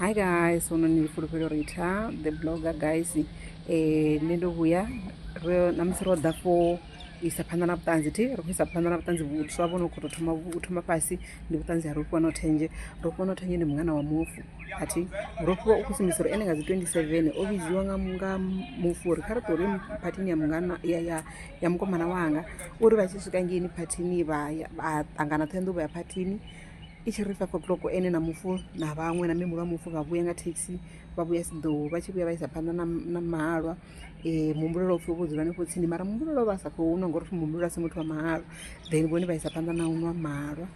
hi guys huno ni fulufhelo rita the blogger guys um nṋe ndo vhuya namusi ro ḓa for isa phanḓa na vhuṱanzi thi ri khou isa phanḓa na vhuṱanzi vhuswa vho no khou tou thoma u thoma fhasi ndi vhuṱanzi ha rofhiwa no thenje rofhiwa no thenje ndi mungana wa mufu athi rofhiwa u khou sumbisa uri ene nga dzi twenty seven o vhidziwa nga nga mufu uri kha ri ṱori phathini ya mungana ya ya ya mukomana wanga uri vha tshi swika ngeini phathini vha ya vha ṱangana ṱhoenḓou vha ya phathini i tshi ri five o'clock ene na mufu na vhaṅwe na mihulu a mufu vha vhuya nga thekhisi vha vhuya siḓou vha tshi vhuya vha isa phanḓa na mahalwa um eh, muhumbulela upfhi vho dzula hanefho tsini mara muhumbulela vha sa khou nwa ngauri muhumbulela a si muthu wa mahalwa then vhone vha isa phanḓa na u nwa mahalwa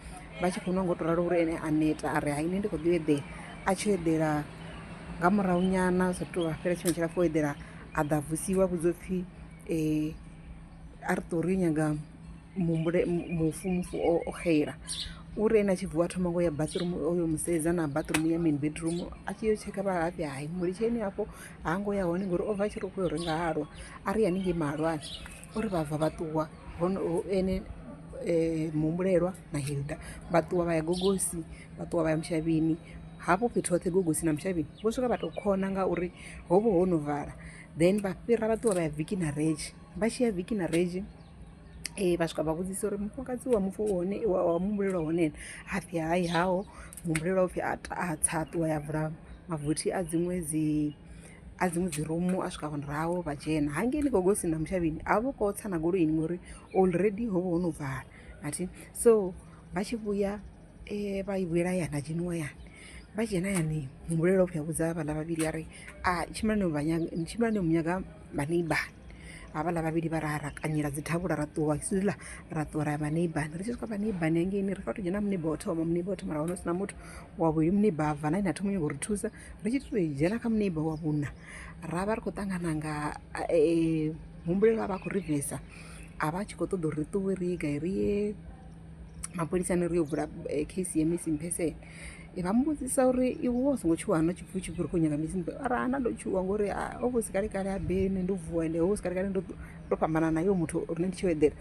vha tshi khou nwa ngo to ralo uri ene a neta a ri haine ndi khou ḓi eḓela a tshi eḓela nga murahu nyana sa tou vha fhela tshifhinga tshilapfu o eḓela a ḓa vusiwa vhudzopfhi um eh, a ri ṱori nyaga muhumbule mufu mufu o xeila uri ene a tshi vuwa thoma ngo ya bathroom oyo musedza na bathroom ya main bedroom a tshi yo tsheka vhalafhi hai mulitsheni hafho ha ngo ya hone ngori o bva a tshi ri u khou yo renga halwa a ri haningei mahalwani uri vha bva vha ṱuwa hone ene eh, muhumbulelwa na hilda vha ṱuwa vha ya gogosi vha ṱuwa vha ya mushavhini hafho fhethu hoṱhe gogosi na mushavhini vho swika vha tou khona ngauri ho vha ho no vala then vha fhira vha ṱuwa vha ya viki na redzhi vha tshi ya viki na redzhi vha swika vha vhudzisa uri mufumakadzi wa mufu hone wa mumbulelwa hone ene ha pfhi hai haho muhumbulelwa upfhi a tsa a ṱuwa ya vula mavothi a dziṅwe dzi a dziṅwe dzi rumu a swika murahu vha dzhena hangei ni khou gosi na mushavhini a vho khou tsa na goloini ngori already ho vha ho no vala athi so vha tshi vhuya vha i vhuyela yana dzheniwa yani vha dzhena yani muhumbulelwa upfhi a vhudza vhaḽa vhavhili a ri a tshimbila ni vha nyaga tshimbila ni mu nyaga vha neighbourni havhaḽa vhavhili vha ra ra kanyela dzi thavhula ra ṱuwa hisiḽa ra ṱuwa ra ya vha neighbourni ri tshi swika vha neighbourni hangeini ri fanela u to dzhena muneiba wa thoma muneiba wa thoma ra wana hu si na muthu wa vhuvhili muneiba a bva na ine a thoma nyanga u ri thusa ri tshi to dzhena kha muneiba wa vhuna ra vha ri khou ṱangana nga muhumbulelo a vha a khou ri bvesa a vha a tshi khou ṱoḓa uri ri ṱuwe ri ye gai ri ye mapholisani ri yo vula case ya missing person vha muvhudzisa uri iwe wa songo tshuwa hana tshipfi u tshi bvi ri khou nyaga missing person ara hana ndo tshuwa ngori o vha si kale kale a bene ndo vuwa ende ho si kale kale ndo ndo fhambana nayo muthu rine ndi tshi yo eḓela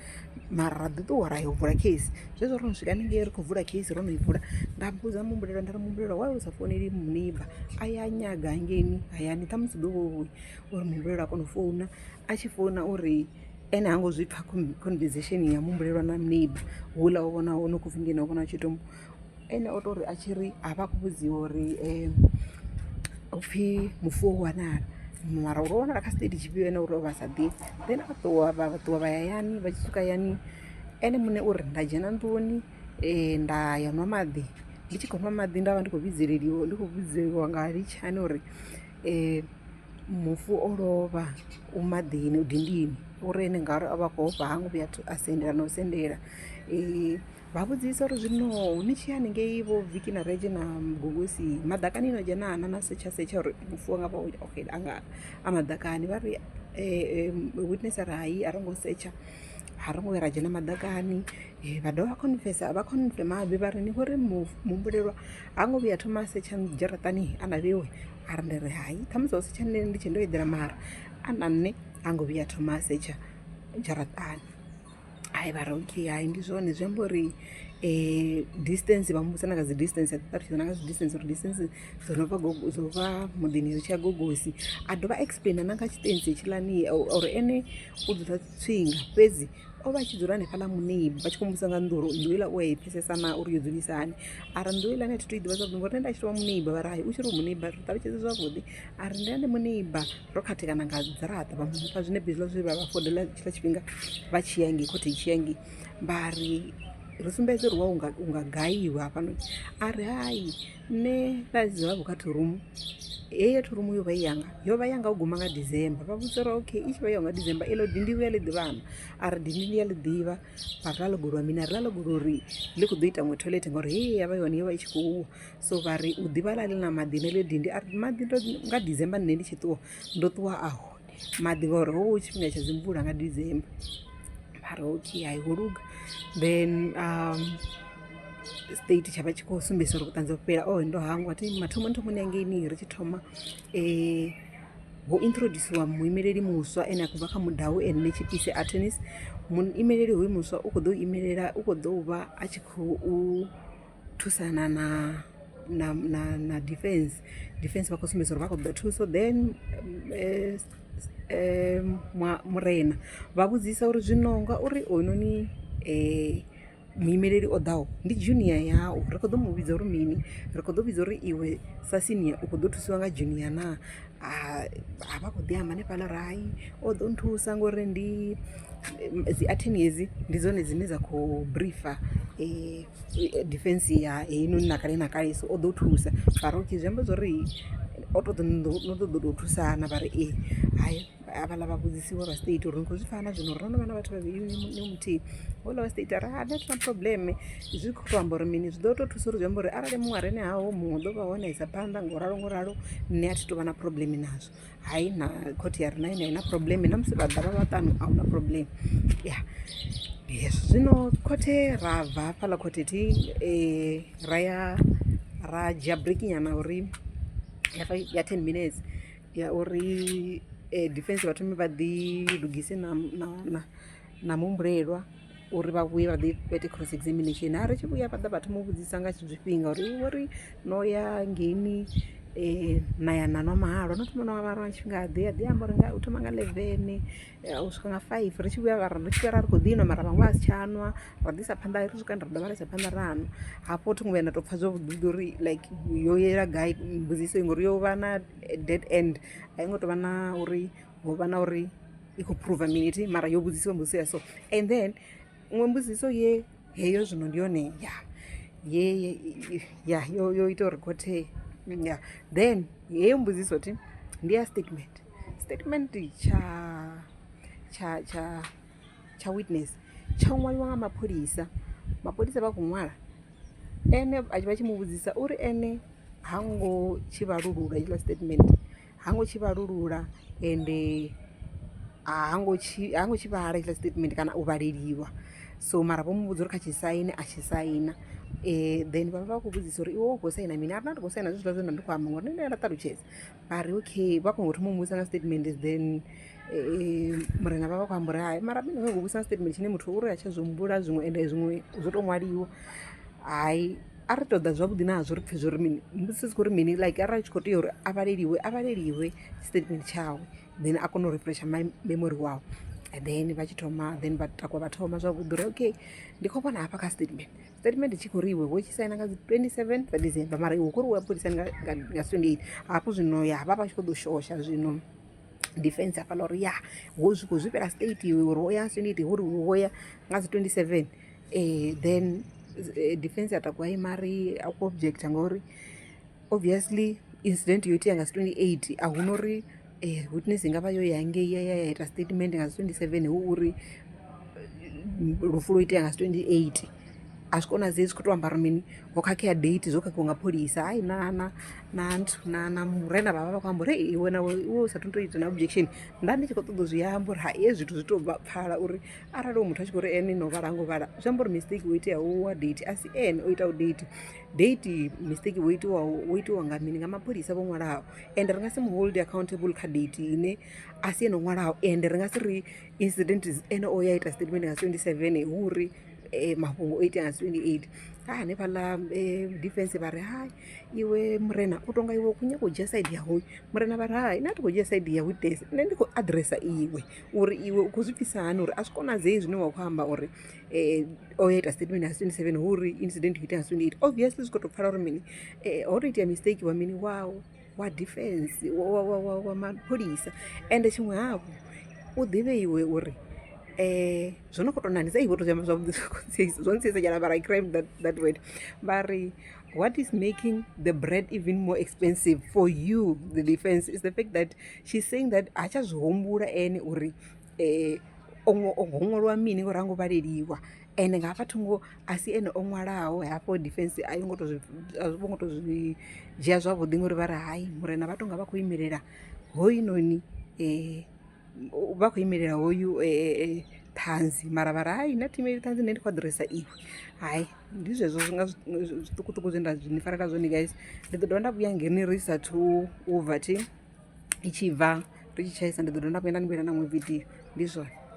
mara ra ḓi ṱuwa ra yo vula case zwezwo ro no swika haningei ri khou vula case ro no i vula nda mbudza muhumbulela nda ri muhumbulela wa u sa founeli muniba a ya nyaga hangeini hayani ṱhamusi ḓo vhouya uri muhumbulela a kona u founa a tshi founa uri Ene hango zwi pfha conversation ya muhumbulelwa na neighbor houḽa o vhona hone khou pfhi ndi ene o vhona tshi tou ene o tou ri a tshi ri a vha khou vhudziwa uri um u pfhi mufu wo wanala mara uri o wanala kha state tshifhio ene uri o vha sa ḓivhi then a ṱuwa vha ṱuwa vha ya yani vha tshi swika yani ene muṋe uri nda dzhena nḓuni um nda ya nwa maḓi ndi tshi khou nwa maḓi nda vha ndi khou vhidzeleliwa ndi khou vhidzeliwa nga litshani uri Mufu o lovha u maḓini u dindini uri ene ngauri o vha a khou ofha ha ngo vhuya a sendela na u sendela. Vha vhudzisa uri zwino ni tshi ya haningei vho Vicky na Redzhi na Mugogoswi maḓakani no dzhena naa na setsha setsha uri mufu wanga vha o xela a nga a maḓakani. Vha ri witness a ri hai a ro ngo setsha a ro ngo vhuya ra dzhena maḓakani vha dovha vha confirm vha confirm habe vha ri ni khou ri muhumbulelwa. ha ngo vhuya thoma a setsha dzharaṱani a na vhewe a ri ndi ri hai ṱhamusi wa setsha nne ndi tshe ndo eḓela mara a na nṋe ha ngo vhuya thoma a setsha dzharaṱani hai vha ri okay hai ndi zwone zwi amba uri um distance vha muvhusa na nga dzi distance a ṱaṱutshidza na nga zwi distance uri distance dzo no vha dzo vha muḓini ri tshi ya gogosi a dovha explaina na nga tshitensi tshiḽani or ene u dzula tsinga fhedzi o vha a tshi dzula hanefhaḽa muṋei vha tshi khou mbusa nga nnḓu uri nnḓu iḽa u a i pfhesesa na uri yo dzulisa hani ara nnḓu iḽa ni a thi to i ḓivha zwavhuḓi ngori nṋe nda tshi to vha muneiba vha ri hai u tshi ri muneiba ri ṱalutshedze zwavhuḓi a ri ndi ane muneiba ro khathekana nga dziraṱa vha mufha zwine bizwa zwe vha vha fodela tshiḽa tshifhinga vha tshi yangi khothe tshi yangi vha ri ri sumbedze uri wa unga gaiwa hafhanoni a ri hai nṋe vhadzi vha vhukha thorumu heyo thorumu yo vha i yanga yo vha yanga u guma nga december vha vhudza uri okay i tshi vha yo nga december elo dindi vhuya ḽi ḓivhana a ri dindi ndi ya ḽi ḓivha vha ri ḽa ḽo golowa mini a ri ḽa ḽo golo uri ḽi khou ḓo ita ngwe toilet ngauri hei ya vha yone yo vha i tshi khou uwa so vha ri u ḓivha ḽa ḽi na maḓi na ḽo dindi a ri maḓi nga december nṋe ndi tshi ṱuwa ndo ṱuwa aho maḓi ngori ho vha hu tshifhinga tsha dzi mvula nga December mara okay hai ho luga then state tsha vha tshi khou sumbedzisa uri vhuṱanzi ho fhela oe ndo hangwa thi mathomoni thomoni hangeini ri tshi thoma ho introdusiwa muimeleli muswa ane a khou bva kha mudau ene ni tshipise athenis muimeleli hoyu muswa u khou ḓo imelela u khou ḓo vha a tshi khou thusana na na na na defense defense vha khou sumbedza uri vha khou ḓa thuso then eh, eh, murena vha vhudzisa uri zwino ngauri oynoni um eh, muimeleli o ḓaho ndi junior yau ri khou ḓo mu vhidza uri mini ri khou ḓo vhidza uri iwe sa senior u khou ḓo thusiwa nga junior naa ha vha khou ḓi amba hanefhaḽa uri hai o ḓo nthusa ngori ndi dzi athini hedzi ndi dzone dzine dza khou briefer defence ya heinoni na kale na kale so o ḓo thusa mara okay zwi amba zwo ri o tou ḓi no ṱoḓa u tou thusa na vha ri ee hai havhaḽa vha vhudzisiwa vha straight uri ni khou zwi pfha na zwino uri no no vha na vhathu vhavhili ni muthihi houḽa wa straight a ri hai a thi na problem. Zwi khou tou amba uri mini zwi ḓo tou thusa uri zwi amba uri arali muṅwe a re na haho muṅwe ḓo vha hone isa phanḓa ngo ralo ngo ralo nṋe a thi tou vha na problem nazwo hai na khothe ya rina ine a i na problem na musi vha ḓa vha vhaṱanu a hu na problem ya yes zwino khothe ra bva hafhaḽa khothe thi um ra ya ra dzhia breakinyana uri ya ten minutes ya uri um defence vha thome vha ḓi lugise na na na na muhumbulelwa uri vha vhuye vha ḓi ite cross examination a ri tshi vhuya vha ḓa vha thoma u vhudzisa nga zwifhinga uri iwe ri no ya ngeini um na ya na nwa mahalwa no thoma nwa mahalwa nga tshifhinga ḓe a ḓi amba uri u thoma nga leven u swika nga five ri tshi vhuya ri tshi vhuya ra ri khou ḓi nwa mara vhaṅwe a si tsha nwa ra ḓisa phanḓa ri swika ra dovha ra isa phanḓa ra nwa hafho thi ngo vhuya nda tou pfha zwavhuḓi uri like yo yela gai mbudziso ngori yo vha na dead end a i ngo tou vha na uri ho vha na uri i khou phuruva minithi mara yo vhudzisiwa mbudziso ya so and then iṅwe mbudziso ye heyo zwino ndi yone ya ye ya yo yo ita uri khothe ya then heyo mbudziso thi ndi ya statement statement tsha tsha tsha tsha witness tsha ṅwaliwa nga mapholisa mapholisa vha khou ṅwala ene vha tshi mu vhudzisa uri ene ha ngo tshi vhalulula itshiḽa statement ha ngo tshi vhalulula ende ha ngo tshi, ha ngo tshi vhala hetshiḽa tshitatimende kana u vhaleliwa so mara vho mu vhudza uri kha tshi saine a tshi saina then vha vha vha khou vhudzisa uri iwe u khou saina mini, a ri nda ndi khou saina zwezwiḽa zwe nda ndi khou amba ngori nṋe ndi a nda ṱalutshedza. Vha ri okay, vha khou thoma u mu vhudzisa nga tshitatimende then murena vha vha vha khou amba uri hai mara ri khou vhudzisa nga tshitatimende tshine muthu uri ha tsha zwi humbula zwiṅwe ende zwiṅwe zwo tou ṅwaliwa, hai. a ri ṱoḓa zwavhuḓi na hazwo ri pfhe zwo ri mini mbudziso dzi khou ri mini like arali tshi khou tea uri a vhaleliwe a vhaleliwe statement tshawe then a kone u refresha memory wawe and then vha tshi thoma then vha takuwa vha thoma zwavhuḓi uri okay ndi khou vhona hafha kha statement statement tshi khou ri iwe wo tshi saina nga dzi 27 dza december mara iwe khou ri wa polisa nga 28 hafho zwino ya vha vha tshi khou ḓo shosha zwino defense hafhaḽa uri ya wo zwi khou zwifhela state iwe uri wo ya 28 uri wo ya nga dzi 27 Ee then defence ya takuwa imari akuobjecta ngori obviously incident yo itea nga si 28 a hu no uri um witness i nga vha yo ya ngei ya ya ya ita statement nga si 27 hu uri lufu lwo itea nga si 28 a zwi konadzei zwi khou tou ambara mini ho khakhea date zwo khakhiwa nga pholisa hai na na na nthu na na murena vhavha vha khou amba uri hei iwe nawe iwe u sa thu to ita na objection nda ndi tshi khou ṱoḓa u zwi amba uri ha hezwi zwithu zwi to pfhala uri arali u muthu a tshi khou ri ene no vhala ngo vhala zwi amba uri mistake wo itea wa date a si ene o itaho date date mistake wo itiwa wo itiwa nga mini nga mapholisa vho ṅwalaho ende ri nga si mu hold accountable kha date ine a si ene o ṅwalaho ende ri nga si ri incident ene o ya ita statement nga 27 hu uri eh, mafhungo o itea nga 28 ha hanefhaḽa eh, defense vha ri hai iwe murena u tonga iwe khou nyaka u dzhia side ya hoyu murena vha ri hai nṋe a thi khou dzhia side ya witness nṋe ndi khou adressa iwe uri iwe u khou zwi pfisa hani uri a zwi konadzei zwine wa khou amba uri um o ya ita statement has twenty seven hu uri incident yo itea has twenty eight obviously zwi khou tou pfala uri mini um ho tou itea mistake wa mini wau wa defense wa mapholisa ende tshiṅwe hafhu u ḓivhe iwe uri um zwo no khou tou nanisa iwe to zwiamba zwavhuḓi zwo ntsisa nyana mara i crime that, that word vha ri what is making the bread even more expensive for you the defense is the fact that she's saying that ha tsha zwi humbula ene uri um o ṅwaliwa mini ngori ha ngo vhaleliwa ende nga hafha thungo a si ene o ṅwalaho hafho defence a yo ngo to zwi a zwi vho ngo to zwi dzhia zwavhuḓi ngori vha ri hai murena vha tonga vha khou imelela hoyu noni um vha khou imelela hoyu ṱhanzi mara vha ri hai na thimu eyi ṱhanzi nṋe ndi khou aḓiresa iwe hai ndi zwezwo zwi nga zwiṱukuṱuku zwe nda zwi ni farela zwone guys ndi ḓo dovha nda vhuya ngeni ri sathu u bva thi i tshi bva ri tshi tshaisa ndi ḓo dovha nda vhuya nda ni vhuyela na iṅwe vidio ndi zwone.